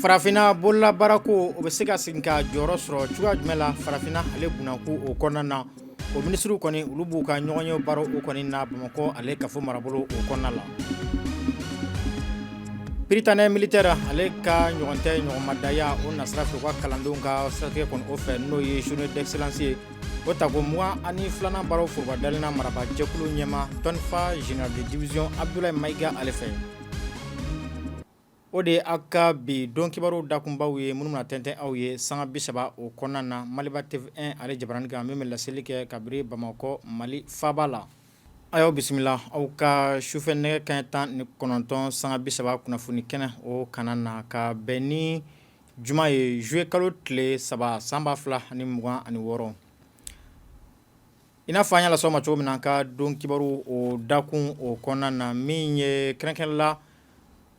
farafinna bololabaara ko o bɛ se ka segin ka jɔyɔrɔ sɔrɔ cogoya jumɛn la farafinna ale bunako o kɔnɔna na o minisiriw kɔni olu b'u ka ɲɔgɔnye baara o kɔni na bamakɔ ale kafo marabolo o kɔnɔna la prytanée militaire ale ka ɲɔgɔn tɛ ɲɔgɔnmadaya o nasira fɛ u ka kalandenw ka siratigɛ kɔni o fɛ n'o ye journée d'excellence ye o tako mugan ani filanan baaraw foroba dayɛlɛna marabaa jɛkulu ɲɛmaa tɔnfa général de division Abdoulaye Maïga ale fɛ O de ye aw ka bi don kibaru dakunbaw ye minnu na tɛntɛn aw ye sanga bi saba o kɔnɔna na maliba TV1 ale jabarani kan min bɛ laseli kɛ kabiri bamakɔ mali faaba la a y'aw bisimila aw ka sufɛ nɛgɛ kanɲɛ tan ni kɔnɔntɔn sanga bi saba kunnafoni kɛnɛ o kanna na ka bɛn ni juma ye zuye kalo tile saba san ba fila ani mugan ani wɔɔrɔ I n'a fɔ an y'a lase aw ma cogo min na an ka don kibaru o dakun o kɔnɔna na min ye kɛrɛnkɛrɛn la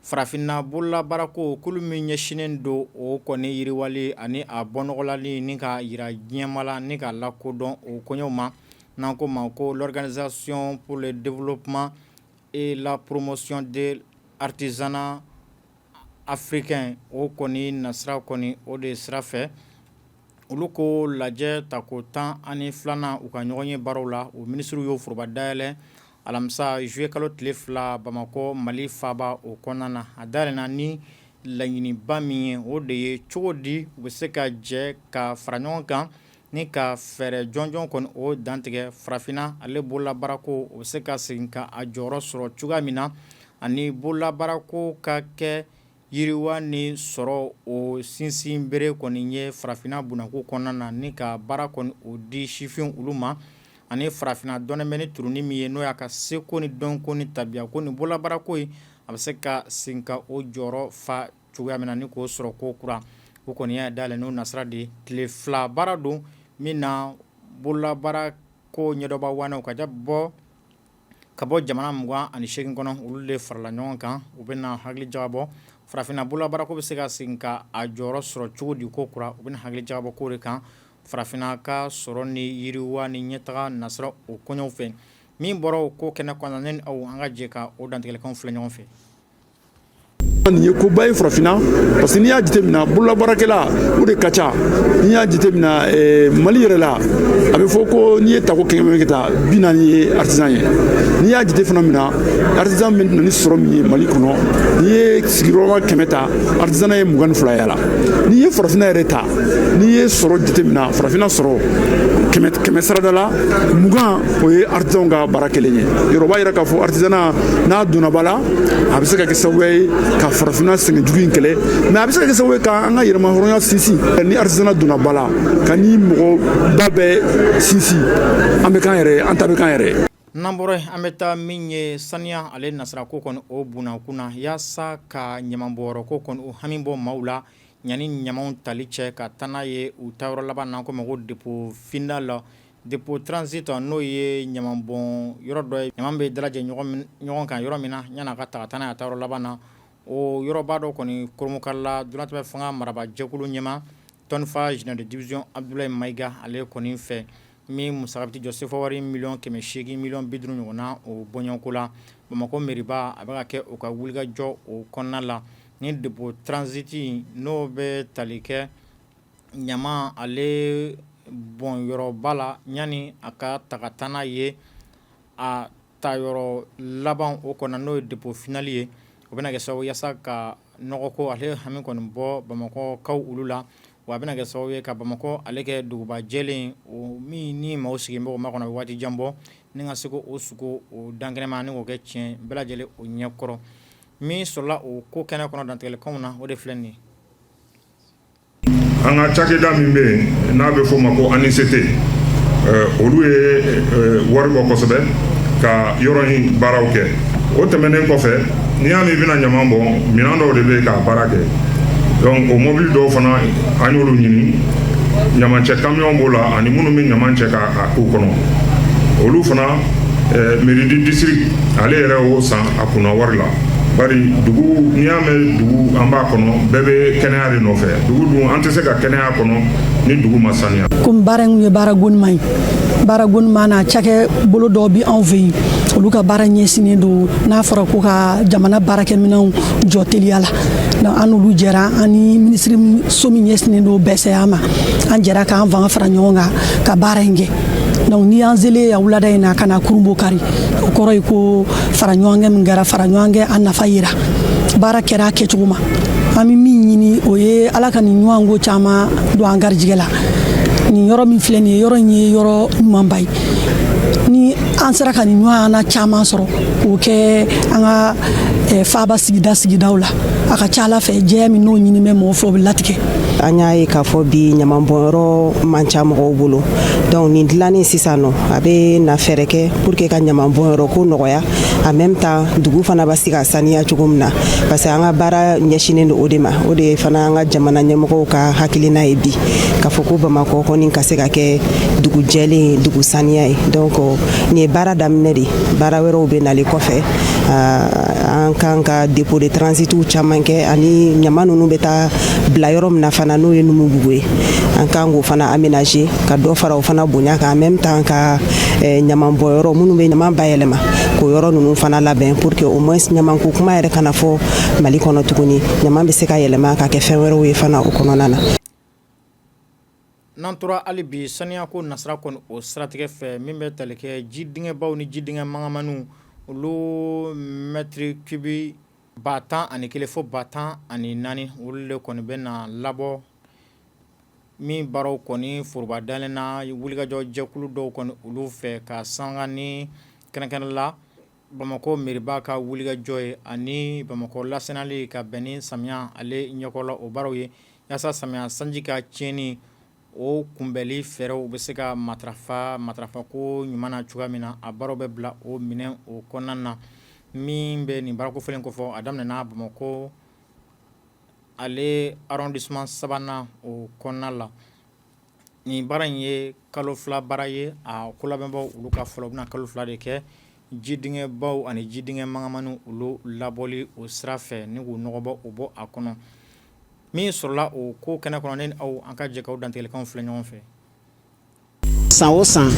farafinna bololabaara ko kulu min ɲɛsinnen don o kɔni yiriwali ani a bɔnɔgɔlali ni k'a jira diɲɛmaa la ni k'a lakodɔn o koɲɛw ma n'an k'o ma ko l'organisation pour le développement et la promotion de l'artisanat Africain o kɔni nasira kɔni o de sira fɛ olu ko lajɛ tako 12nan u ka ɲɔgɔnye baaraw la o minisiriw y'o foroba dayɛlɛ alamisa zuye kalo tile fila bamakɔ mali faaba o kɔnɔna na a dayɛlɛna ni laɲiniba min ye o de ye cogo di u bɛ se ka jɛ ka fara ɲɔgɔn kan Ni ka fɛɛrɛ jɔnjɔn kɔni o dantigɛ farafinna ale bololabaara ko o bɛ se ka segin ka a jɔyɔrɔ sɔrɔ cogoya min na ani bololabaara ko ka kɛ yiriwa ni sɔrɔ o sinsin bere kɔni ye farafinna bunako kɔnɔna na ni ka baara kɔni o di sifinw olu ma ani farafinna dɔnnen bɛ ni turunin min ye n'o y'a ka seko ni dɔnko ni tabiya ko ni bololabaarako ye a bɛ se ka segin ka o jɔyɔrɔ fa cogoya min na ni k'o sɔrɔ ko kura o kɔni y'a daminɛ n'o nasira de ye tile fila baara don min na bololabaara ko ɲɛdɔnbaa waanew ka bɔ jamana mugan ani seegin kɔnɔ olu de farala ɲɔgɔn kan u bɛ na hakili jagabɔ farafinna bololabaara ko bɛ se ka segin ka a jɔyɔrɔ sɔrɔ cogo di ko kura u bɛ na hakili jagabɔ k'o de kan farafinna ka sɔrɔ ni yiriwa ni ɲɛtaga nasira o koɲɛw fɛ min bɔra o ko kɛnɛ kɔnɔ ne ni aw an ka jɛ ka o dantigɛkan filɛ ɲɔgɔn fɛ nin ye koba ye farafinna parce que n'i y'a jateminɛ bololabaarakɛla o de ka ca n'i y'a jateminɛ eh, mali yɛrɛ la a bɛ fɔ ko n'i ye tako kɛmɛ kɛ ta bi naani ye artisan ye n'i y'a jate fana min na artisan bɛ na ni sɔrɔ min ye mali kɔnɔ n'i ye sigiyɔrɔma kɛmɛ ta artisanat ye mugan ni fila y'a la n'i ye farafinna yɛrɛ ta n'i ye sɔrɔ jateminɛ farafinna sɔrɔ kɛmɛ kɛmɛ sarada la mugan o ye artisanw ka baara kɛlen ye yɔrɔ b'a yira k'a fɔ artisanat n'a donna ba la a bɛ se ka kɛ sababu ye ka farafinna sɛgɛn jugu in kɛlɛ mais a bɛ se ka kɛ sababu ye ka an ka yɛrɛmahɔrɔnya sinsin ni artisanat donna ba la ka ni mɔgɔ ba bɛɛ sinsin an bɛ k'an yɛrɛ an ta bɛ k'an yɛrɛ n'an bɔra an bɛ taa min ye saniya ale nasira ko kɔni o bunakun na yaasa ka ɲamanbɔyɔrɔ ko kɔni o hami bɔ maaw la yanni ɲamanw tali cɛ ka taa n'a ye u taayɔrɔ laban n'an k'o ma ko dépôt final la Dépôt transit n'o ye ɲaman bɔn yɔrɔ dɔ ye ɲaman bɛ dalajɛ ɲɔgɔn kan yɔrɔ min na yann'a ka taa taa n'a ye a taayɔrɔ laban na o yɔrɔba dɔ kɔni kurunbonkarila donnatɛmɛ fanga marabajɛkulu ɲɛmaa tɔnfaa général de division Abdoulaye Maïga ale kɔni fɛ min musaka bɛ t'i jɔ sefawari miliyɔn kɛmɛ seegin miliyɔn bi duuru ɲɔgɔn na o bɔɲɔgɔnko la bamakɔ mairie ba a bɛ ka kɛ o ka wulikajɔ o kɔnɔna la ni dépôt transit n'o bɛ tali kɛ ɲama ale bɔn yɔrɔba la yanni a ka taga taa n'a ye a taayɔrɔ laban o kɔnɔ n'o ye dépôt final ye o bɛna kɛ sababu yaasa ka nɔgɔko ale hami kɔni bɔ bamakɔkaw olu la wa a bɛna kɛ sababu ye ka bamakɔ ale kɛ duguba jɛlen o min ni maaw sigilen b'o makɔnɔ a bɛ waati jan bɔ ni ka se k'o sugu o dan kɛnɛma ni k'o kɛ tiɲɛ bɛɛ lajɛlen o ɲɛkɔrɔ min sɔrɔla o ko kɛnɛ kɔnɔ dantigɛlikanw na o de filɛ nin an ka cakɛda min bɛ yen n'a bɛ f'o ma ko ANICT olu ye wari bɔ kosɛbɛ ka yɔrɔ in baaraw kɛ o tɛmɛnen kɔfɛ n'i y'a mɛn i bɛna ɲaman bɔ minɛn dɔw de bɛ k'a baara kɛ donc o mobili dɔw fana an y'olu ɲini ɲamancɛ kamiyɔn b'o la ani minnu bɛ ɲaman cɛ k'a k'u kɔnɔ olu fana mairie du district ale yɛrɛ y'o san a kunna wari la. bari dugu n'i y'a mɛn dugu an b'a kɔnɔ bɛɛ bɛ kɛnɛya de nɔfɛ dugu dun an tɛ se ka kɛnɛya kɔnɔ ni dugu ma saniya komi baara in ye baara gonima ye baara gonima na cakɛ bolo dɔw bi anw fɛ yen olu ka baara ɲɛsinnen don n'a fɔra ko ka jamana baarakɛminɛnw jɔ teliya la donc an n'olu jɛra an ni minisiriso min ɲɛsinnen don bɛsɛya ma an jɛra k'an fanga fara ɲɔgɔn kan ka baara in kɛ donc n'i y'an selen yan wulada in na ka n'a kurunbonkari o kɔrɔ ye ko faraɲɔgɔnkan min kɛra faraɲɔgɔnkan a nafa yira baara kɛra a kɛcogo ma an bɛ min ɲini o ye ala ka nin ɲɔgɔn ko caman don an garijɛgɛ la nin yɔrɔ min filɛ nin ye yɔrɔ in ye yɔrɔ ɲumanba ye ni an sera ka nin ɲɔgɔnna caman sɔrɔ k'o kɛ an ka eh, faaba sigida sigidaw la a ka ca ala fɛ jɛya min n'o ɲini bɛ mɔgɔ fɛ o bɛ latigɛ an y'a ye k'a fɔ bi ɲamanbɔnyɔrɔ man ca mɔgɔw bolo donc nin dilannen sisan nɔ a bɛna fɛɛrɛ kɛ pour que ka ɲaman bɔn yɔrɔ ko nɔgɔya en même temps dugu fana bɛ se ka saniya cogo min na parce que an ka baara ɲɛsinnen don o de ma o de fana an ka jamana ɲɛmɔgɔw ka hakilina ye bi k'a fɔ ko bamakɔ kɔni ka se ka kɛ dugu jɛlen ye dugu saniya ye donc nin ye baara daminɛ de baara wɛrɛw bɛ nalen kɔfɛ an kan ka dépôt de transitiw caman kɛ ani ɲaman ninnu bɛ taa bila yɔrɔ min na fana n'o ye numubugu ye an kan k'o fana aménager ka dɔ fara o fana bonya kan en même temps ka eh, ɲaman bɔ yɔrɔ minnu bɛ ɲaman bayɛlɛma k'o yɔrɔ ninnu fana labɛn pour que au moins ɲamanko kuma yɛrɛ kana fɔ mali kɔnɔ tuguni ɲaman bɛ se ka yɛlɛma ka kɛ fɛn wɛrɛw ye fana o kɔnɔna na n'an tora hali bi saniyako nasira kɔni o siratigɛ fɛ min bɛ tali kɛ ji dingɛbaw ni ji dingɛ mangamaniw olu mɛtiri kibi ba tan ani kelen fo ba tan ani naani olu de kɔni bɛ na labɔ min baaraw kɔni foroba dalen na wulikajɔ jɛkulu dɔw kɔni olu fɛ ka sanga ni kɛrɛnkɛrɛn la bamakɔ mɛriba ka wulikajɔ ye ani bamakɔ lasaniyali ka bɛn ni samiya ale ɲɛkɔrɔla o baaraw ye yaasa samiya sanji ka tiɲɛni o kunbɛnli fɛɛrɛw bɛ se ka matarafa matarafako ɲuman na cogoya min na a baaraw bɛ bila o minɛ o kɔnɔna na min bɛ nin baara kofɔlen kɔfɛ a daminɛna bamakɔ ale arrondissement sabanan o kɔnɔna la nin baara in ye kalo fila baara ye a ko labɛnbaw olu ka fɔ la o bɛna kalo fila de kɛ ji dingɛbaw ani ji dingɛ mangamaniw olu labɔli o sira fɛ ni k'u nɔgɔ bɔ o bɔ a kɔnɔ min sɔrɔla o ko kɛnɛ kɔnɔ ne ni aw an ka jɛ ka u dantigɛlikanw filɛ ɲɔgɔn fɛ san o san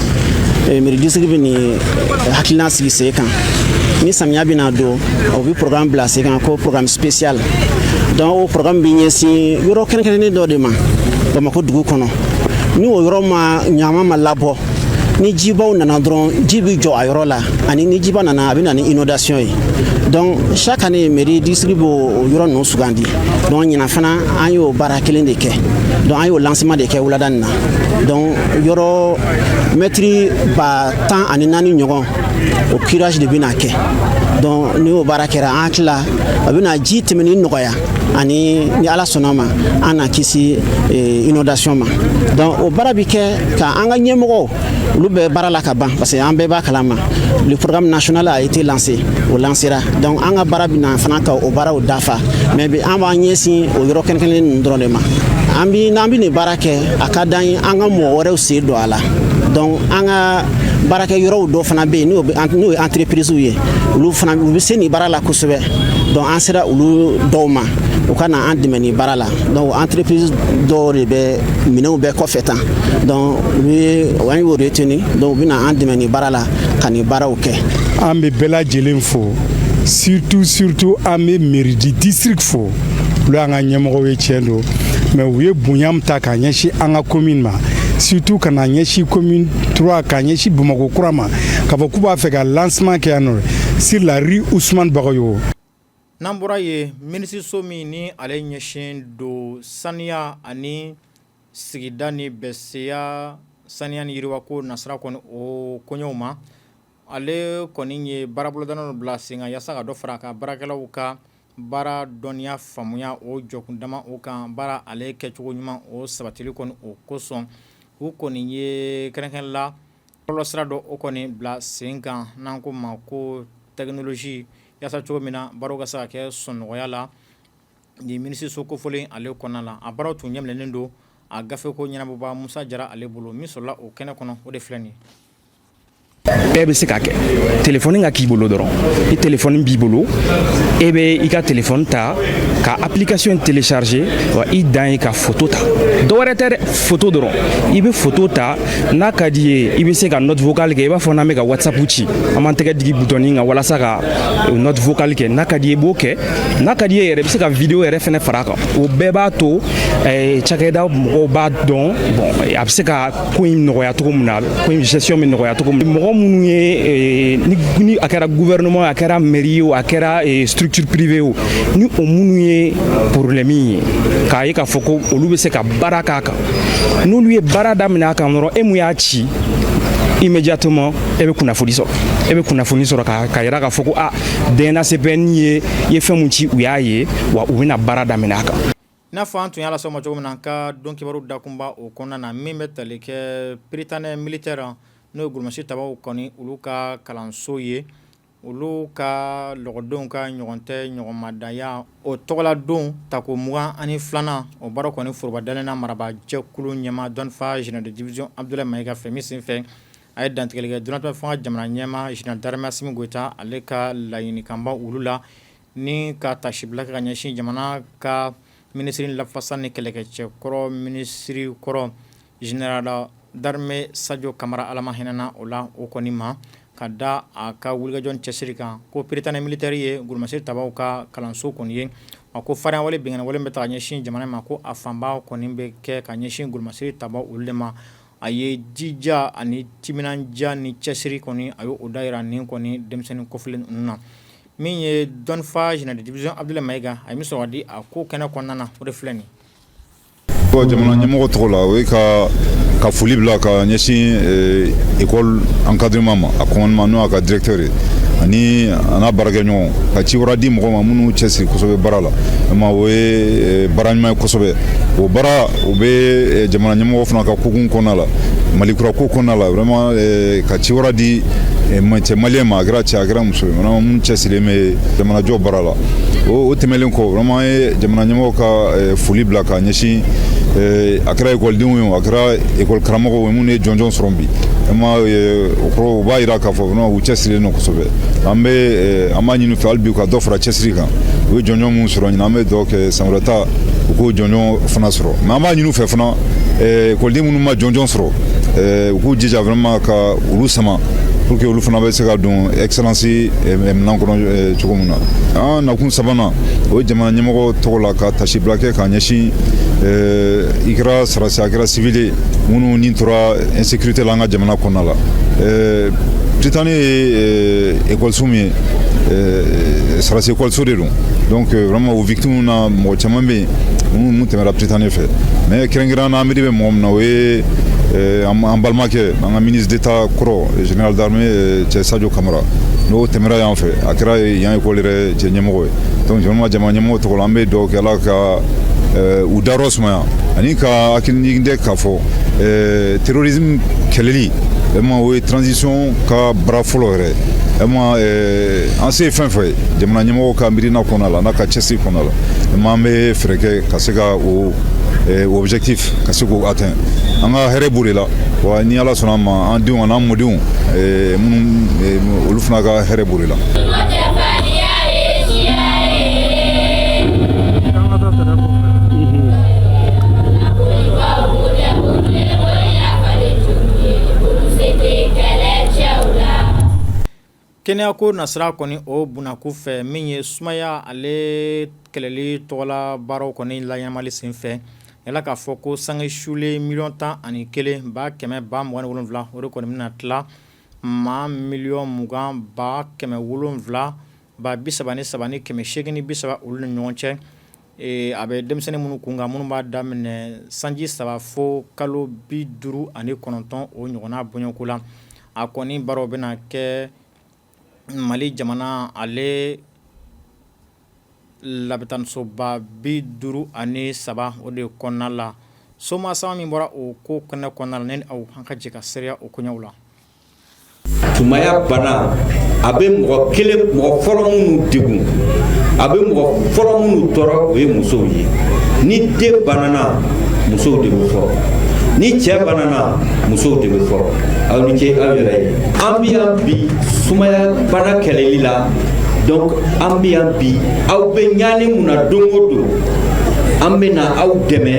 eh, mairie district bɛ nin eh, hakilina sigi sen kan ni samiya bɛna don o bɛ programme bila sen kan ko programme spécial donc o programme bɛ ɲɛsin yɔrɔ kɛrɛnkɛrɛnnen dɔ de ma bamakɔ dugu kɔnɔ ni o yɔrɔ ma ɲaman ma labɔ ni jibaw nana dɔrɔn ji bɛ jɔ a yɔrɔ la ani ni jiba nana a bɛ na ni inondation ye donc chaque année mairie district b'o yɔrɔ ninnu sugandi donc ɲinan fana an y'o baara kelen de kɛ donc an y'o lancement de kɛ wulada nin na donc yɔrɔ mɛtiri ba tan ani naani ɲɔgɔn o curage de bɛna kɛ donc ni o baara kɛra an hakili la a bɛna ji tɛmɛni nɔgɔya ani ni ala sɔnna a ma an na kisi eh, inondation ma donc o baara bɛ kɛ ka an ka ɲɛmɔgɔw olu bɛ baara la ka ban parce que an bɛɛ b'a kalama le programme national a été lancé o lancera donc an ka baara bɛ na fana ka o baaraw dafa mais bi an b'an ɲɛsin o yɔrɔ kɛrɛnkɛrɛnnen ninnu dɔrɔn de ma an bi n'an bi nin baara kɛ a ka d'an ye an ka mɔgɔ wɛrɛw sen don a la donc an ka baarakɛ yɔrɔw dɔ fana bɛ yen n'o ye entreprisew ye olu fana u bɛ se nin baara la kosɛbɛ donc an sera olu dɔw ma u ka na an dɛmɛ nin baara la donc entreprise dɔw de bɛ minɛnw bɛɛ kɔfɛ tan donc u ye an y'o retenir donc u bɛ na an dɛmɛ nin baara la ka nin baaraw kɛ an bɛ bɛɛ lajɛlen fo surtout surtout an bɛ mairie du district fo olu y'an ka ɲɛmɔgɔw ye tiɲɛ don mais u ye bonya min ta k'a ɲɛsin an ka commune ma surtout ka na ɲɛsin commune 3 k'a ɲɛsin bamakɔ kura ma k'a fɔ k'u b'a fɛ ka lancement kɛ yan nɔ sur la rue Ousmane Bagayogo n'an bɔra yen minisiriso min ni ale ɲɛsin don saniya ani sigida ni bɛseya saniya ni yiriwako nasira kɔni o koɲɛw ma ale kɔni ye baarabolodalen dɔ bila sen kan yaasa ka dɔ fara a ka baarakɛlaw ka baara dɔnniya faamuya o jɔkun dama o kan baara ale kɛcogo ɲuman o sabatili kɔni o kosɔn u kɔni ye kɛrɛnkɛrɛn la bɔlɔlɔ sira dɔ o kɔni bila sen kan n'an k'o ma ko technologie yaasa cogo min na baaraw ka se ka kɛ sɔnnɔgɔya la nin minisiriso kofɔlen ale kɔnɔna na a baaraw tun ɲɛminɛnen don a gafe ko ɲɛnabɔba musa jara ale bolo min sɔrɔla o kɛnɛ kɔnɔ o de filɛ nin ye bɛɛ bɛ se k'a kɛ telefɔni ka k'i bolo dɔrɔn ni telefɔni b'i bolo e bɛ i ka telefɔni ta ka application télécharger wa i dan ye ka foto ta dɔwɛrɛ tɛ dɛ foto dɔrɔn i bɛ foto ta n'a ka d'i ye i bɛ se ka note vocale kɛ i b'a fɔ n'an bɛ ka whatsapp ci an b'an tɛgɛ digi butɔni kan walasa ka eh, note vocale kɛ n'a ka d'i ye i b'o kɛ n'a ka d'i ye yɛrɛ i bɛ se ka video yɛrɛ fɛnɛ fara a kan o bɛɛ b'a to eh, cakɛda mɔgɔw b'a dɔn bon a bɛ se ka ko in nɔgɔya cogo min na ko in gestion bɛ nɔgɔya cogo min mɔgɔ minnu ye ni a kɛra gouvernement a kɛra mairie ye o a kɛra structure privée o ni o minnu ye problème ye k'a ye k'a fɔ ko olu bɛ se ka baara k'a kan n'olu ye baara daminɛ a kan dɔrɔn e mun y'a ci immédiatement e bɛ kunnafoni sɔrɔ e bɛ kunnafoni sɔrɔ ka k'a yira k'a fɔ ko a DNACPN e ye fɛn mun ci u y'a ye wa u bɛna baara daminɛ a kan N'a fɔ an tun y'a lase aw ma cogo min na an ka don kibaru dakunba o kɔnɔna na min bɛ tali kɛ Prytanée militaire n'o ye kulusi tabaw kɔni olu ka kalanso ye olu ka lɔkɔlidenw ka ɲɔgɔn tɛ ɲɔgɔn madanya o tɔgɔladon tako mugan ani filanan o baara kɔni forobadɛnna marabajɛkulu ɲɛmaa dɔnnifa général de division Abdoulaye Maïga fɛ min senfɛ a ye dantigɛli kɛ donnatɛmɛ fanga jamana ɲɛmaa général d'armée Assimi Goïta ale ka laɲinikanba olu la ni ka tasibila kɛ ka ɲɛsin jamana ka minisiri lafasa ni kɛlɛkɛcɛ kɔrɔ minisiri kɔrɔ général d'armée sajɔ kamara ala ma hinɛna o la o kɔni ma ka da a ka wulikajɔ cɛsiri kan ko prytanée militaire ye gulumasiri tabaw ka kalanso kɔni ye a ko farinya wale binkanni wale bɛ taa ka ɲɛsin jamana ma ko a fanba kɔni bɛ kɛ ka ɲɛsin gulumasiri tabaw olu de ma A ye jija ani timinandiya ni cɛsiri kɔni a y' o dayira ni kɔni denmisɛnnin kofɔlen ninnu na min ye dɔnniifaa général de division abdoulaye maïga a bɛ sɔn di a ko kɛnɛ kɔnɔna na o de filɛ nin ye jamana ɲɛmɔgɔ tɔgɔ la o ye ka foli bila ka ɲɛsin école encadrement ma a commandement n' a ka directeur ani a n' a baarakɛɲɔgɔn ka ciwara di mɔgɔw ma minnu cɛsiri kosɛbɛ baara la o ye baara ɲuman ye o bɛ eh, jamana ɲɛmɔgɔ fana ka kokun kɔnɔna la mali kura ko kɔnɔna la vraiment eh, ka ciwara di eh, cɛ maliyɛn ma a kɛra cɛ a kɛra muso ye vraiment minnu cɛsirilen bɛ jamanajɔ baara la o tɛmɛlen kɔ vraiment ye jamana ɲɛmɔgɔ ka foli bila ka ɲɛsin a kɛra ekɔlidenw ye o a kɛra ekɔli karamɔgɔw ye minnu ye jɔnjɔn sɔrɔ bi vraiment o kɔrɔ o b'a jira k'a fɔ vraiment u cɛsirilen don kosɛbɛ an bɛ an b'a ɲini u fɛ hali bi u ka dɔ fara cɛsiri kan u ye jɔnjɔn minnu sɔrɔ ɲinan an bɛ dugawu kɛ san wɛrɛ ta u k'o jɔnjɔn fana sɔrɔ mais an b'a ɲini u fɛ fana ekɔliden minnu ma jɔnjɔn sɔrɔ eh, u k'u jija vraiment ka olu sama pour que olu fana bɛ se ka don excellence eh, minɛn kɔnɔ cogo min na an nakun sabanan o ye jamana ɲɛmɔgɔ tɔgɔ la ka tasibila kɛ k'a ɲɛsin i kɛra sarasi a kɛra civil ye minnu ni tora insécurité la an ka jamana kɔnɔna la prytanée ye ekɔliso min ye sarasi ekɔliso de don donc euh, vraiment o victime na mɔgɔ caman bɛ yen minnu minnu tɛmɛra prytanée fɛ mais kɛrɛnkɛrɛnnen na an miiri bɛ mɔgɔ min na o ye euh, an balimakɛ an ka ministre d'état kɔrɔ général d'armée euh, cɛ sadio kamara n'o tɛmɛra yan fɛ a kɛra yan école yɛrɛ cɛ ɲɛmɔgɔ ye donc vraiment jamana ɲɛmɔgɔ tɔgɔ la an bɛ dugawu kɛ ala ka u dayɔrɔ sumaya ani ka hakilijigin kɛ k'a fɔ terrorisme kɛlɛli vraiment o ye transition ka baara fɔlɔ yɛrɛ vraiment Eh, an se ye fɛn fɛn ye jamana ɲɛmɔgɔ ka miirina kɔnɔna la n'a ka cɛsiri kɔnɔna la maa an bɛ fɛɛrɛ kɛ ka se ka o eh, objectif ka se k'o atteint an ka hɛrɛ b'o de la wa ni ala sɔnna a ma an denw an'an mɔdenw eh, minnu olu fana ka hɛrɛ b'o de la Kɛnɛya ko nasira kɔni o bunako fɛ min ye sumaya ale kɛlɛli tɔgɔla baaraw kɔni laɲɛnamali senfɛ yala k'a fɔ ko sange sulen miliyɔn tan ani kelen ba kɛmɛ ba mugan ni wolonwula o de kɔni bɛna tila maa miliyɔn mugan ba kɛmɛ wolonwula ba bi saba ni saba ni kɛmɛ seegin bi saba olu ni ɲɔgɔn cɛ Ee a bɛ denmisɛnnin minnu kunkan minnu b'a daminɛ sanji saba fo kalo bi duuru ani kɔnɔntɔn o ɲɔgɔnna bɔɲɔgɔnko la a kɔni baaraw bɛna kɛ mali jamana ale labitanisoba bi duuru ani saba o de kɔnɔna la soma sama min bɔra o ko kɛnɛ kɔnɔna ne ni aw an ka jɛ ka seereya o koɲɛw la sumaya bana a bɛ mɔgɔ kelen mɔgɔ fɔlɔ minnu degun a bɛ mɔgɔ fɔlɔ minnu tɔɔrɔ o ye musow ye ni den banana musow de bɛ fɔlɔ ni cɛ banana musow de bɛ fɔlɔ aw ni ce aw yɛrɛ ye an bɛ yan bi sumaya bana kɛlɛli la donc an bɛ yan bi aw bɛ ɲani min na don o don an bɛ na aw dɛmɛ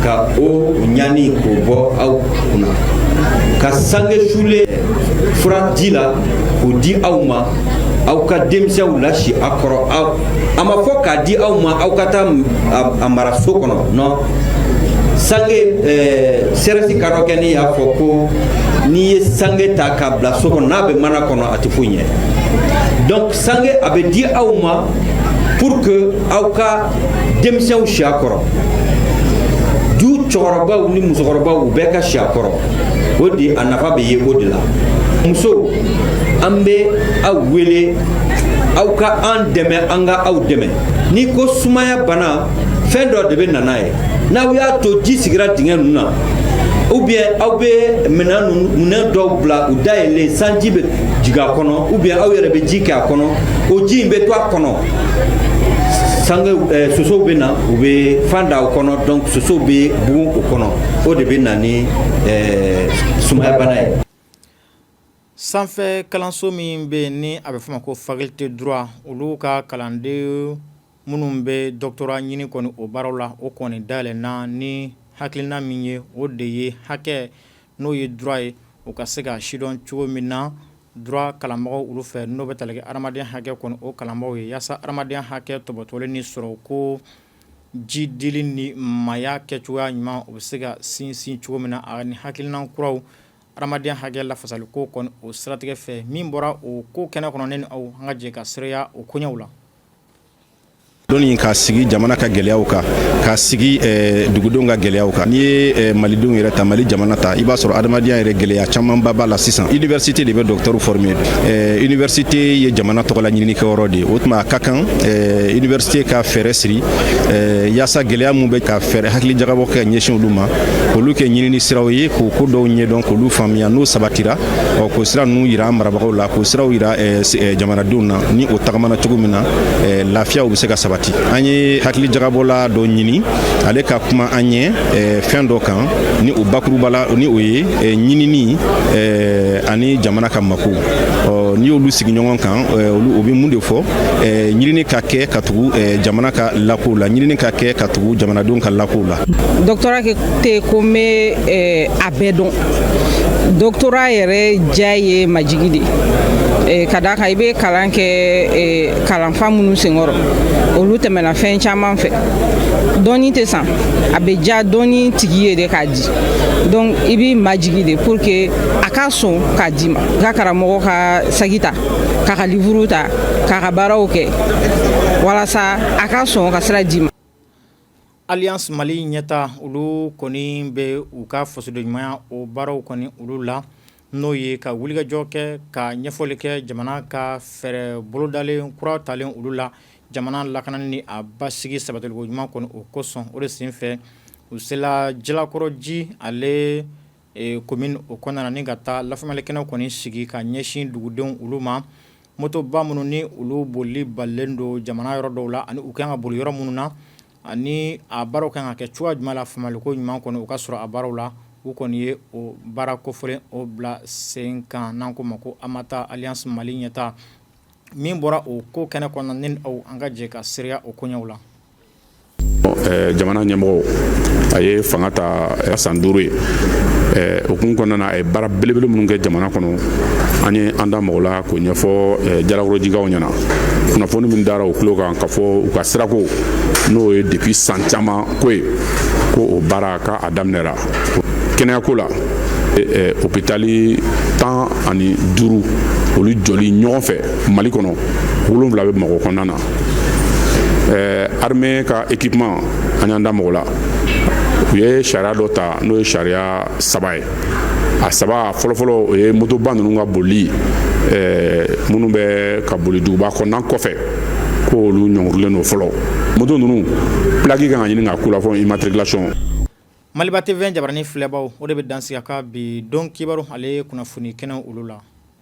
ka o ɲani k'o bɔ aw ka sange sulen fura ji la k'o di aw ma aw ka denmisɛnw lasi a kɔrɔ a ma fɔ k'a di aw ma aw ka taa a mara so kɔnɔ non sange eh, sɛrɛsi ka dɔ kɛ ni y'a fɔ ko n'i ye sange ta k'a bila so kɔnɔ n'a bɛ mana kɔnɔ a tɛ foyi ɲɛ donc sange a bɛ di aw ma pour que aw ka denmisɛnw si a kɔrɔ du cɛkɔrɔbaw ni musokɔrɔbaw u bɛɛ ka si a kɔrɔ o de a nafa bɛ ye o de la musow an bɛ aw wele aw ka an dɛmɛ an ka aw dɛmɛ n'i ko sumaya bana fɛn dɔ de bɛ na n'a ye n'aw y'a to ji sigira dingɛ ninnu na ou bien aw bɛ minɛn ninnu minɛn dɔw bila u dayɛlɛlen sanji bɛ jigin a kɔnɔ ou bien aw yɛrɛ bɛ ji kɛ a kɔnɔ o ji in bɛ to a kɔnɔ sange eh, sosow bɛ na u bɛ fan da o kɔnɔ donc sosow bɛ bugun o kɔnɔ o de bɛ na ni eh, sumaya bana ye sanfɛ kalanso min bɛ yen ni a bɛ f'o ma ko faculté droit olu ka kalanden minnu bɛ doctorat ɲini kɔni o baaraw la o kɔni dayɛlɛnna ni hakilina min ye o de ye hakɛ n'o ye droit ye u ka se ka sidɔn cogo min na droit kalanbagaw olu fɛ n'o bɛ tali kɛ hadamadenya hakɛ kɔni o kalanbagaw ye yaasa hadamadenya hakɛ tɔpɔtɔlen ni sɔrɔ ko jiidili ni maaya kɛ cogoya ɲuman o bɛ se ka sinsin cogo min na ani hakilina kuraw hadamadenya hakɛ lafasali ko kɔni o siratigɛ fɛ min bɔra o ko kɛnɛ kɔnɔ ne ni aw an ka jɛ ka seereya o koɲɛw la dɔnni k'a sigi jamana ka gɛlɛyaw kan k'a sigi eh, dugudenw ka gɛlɛyaw kan n'i ye eh, malidenw yɛrɛ ta mali jamana ta i b'a sɔrɔ adamadenya yɛrɛ gɛlɛya camanba b'a la sisan université de bɛ dɔktɛriw forme eh, université ye jamana tɔgɔla ɲininikɛyɔrɔ de ye o tuma a ka kan université ka fɛɛrɛ siri yaasa gɛlɛya min bɛ ka fɛɛrɛ hakili jagabɔ kɛ ɲɛsin olu ma k'olu kɛ ɲinini siraw ye k'o ko dɔw ɲɛdɔn k'olu faamuya n'o sabatira ɔ k'o sira ninnu yira an marabagaw la k'o siraw yira eh, eh, jamanadenw na ni o tagamana cogo min na eh, lafiyaw bɛ se ka sabati an ye hakili jagabɔla dɔ ɲini ale ka kuma an ɲɛ fɛn dɔ kan ni o bakurubala ni o ye ɲinini ani jamana ka makow n'i y'olu sigi ɲɔgɔn kan olu o bɛ mun de fɔ ɲinini ka kɛ ka tugu jamana ka lakow la ɲinini ka kɛ ka tugu jamanadenw ka lakow la doktora tɛ ko n bɛ a bɛɛ dɔn doktora yɛrɛ diya ye majigi de ye ka d'a kan i bɛ kalan kɛ kalanfa minnu senkɔrɔ olu tɛmɛna fɛn caman fɛ dɔnni tɛ san a bɛ diya dɔnni tigi ye de k'a di donc i b'i majigi de pour que a ka sɔn k'a d'i ma i ka karamɔgɔ ka saki ta k'a ka livuru ta k'a ka baaraw kɛ walasa a ka sɔn ka sira d'i ma alliance mali ɲɛtaa olu kɔni bɛ u ka fasodenɲumanya o baaraw kɔni olu la n'o ye ka wulikajɔ kɛ ka ɲɛfɔli kɛ jamana ka fɛɛrɛ bolodalen kura talen olu la jamana lakanani ni a basigi sabatiliko ɲuman kɔni o kosɔn o de senfɛ u sela jalakɔrɔji ale commune o kɔnɔna ni ka taa lafaamulikɛnɛ kɔni sigi ka ɲɛsin dugudenw olu ma motoba minnu ni olu bolili balilen don jamana yɔrɔ dɔw la ani u kan ka boli yɔrɔ minnu na ani a baaraw kan ka kɛ cogoya jumɛn la faamuliko ɲuman kɔni o ka sɔrɔ a baaraw la u kɔni ye o baara kofɔlen o bila sen kan n'an ko ma ko amata alliance mali ɲɛtaa min bɔra o ko kɛnɛ kɔnɔna ni aw an ka jɛ ka seereya o koɲɛw la jamana ɲɛmɔgɔ a ye fanga ta san duuru ye o kun kɔnɔna na a ye baara belebele minnu kɛ jamana kɔnɔ an ye an da mag'a la k'o ɲɛfɔ jalakɔrɔjikaw ɲɛna kunnafoni min dara u tulo kan ka fɔ u ka sirako n'o ye depuis san caman ko ye ko o baara ka a daminɛra kɛnɛyako la hopitali tan ani duuru olu jɔli ɲɔgɔn fɛ mali kɔnɔ wolonwula bamakɔ kɔnɔna na eh, armée ka équipement an y'an da mag'a la u ye sariya dɔ ta n'o ye sariya saba ye a saba fɔlɔfɔlɔ o ye motoba ninnu ka bolili eh, minnu bɛ ka boli duguba kɔnɔna kɔfɛ ko olu ɲɔngirilen don fɔlɔ moto ninnu plaki kan ka ɲini ka k'u la fɔ immatriculation maliba tv jabarani filɛbaw o de bɛ dan sigi an ka bi don kibaru ale kunnafoni kɛnɛ olu la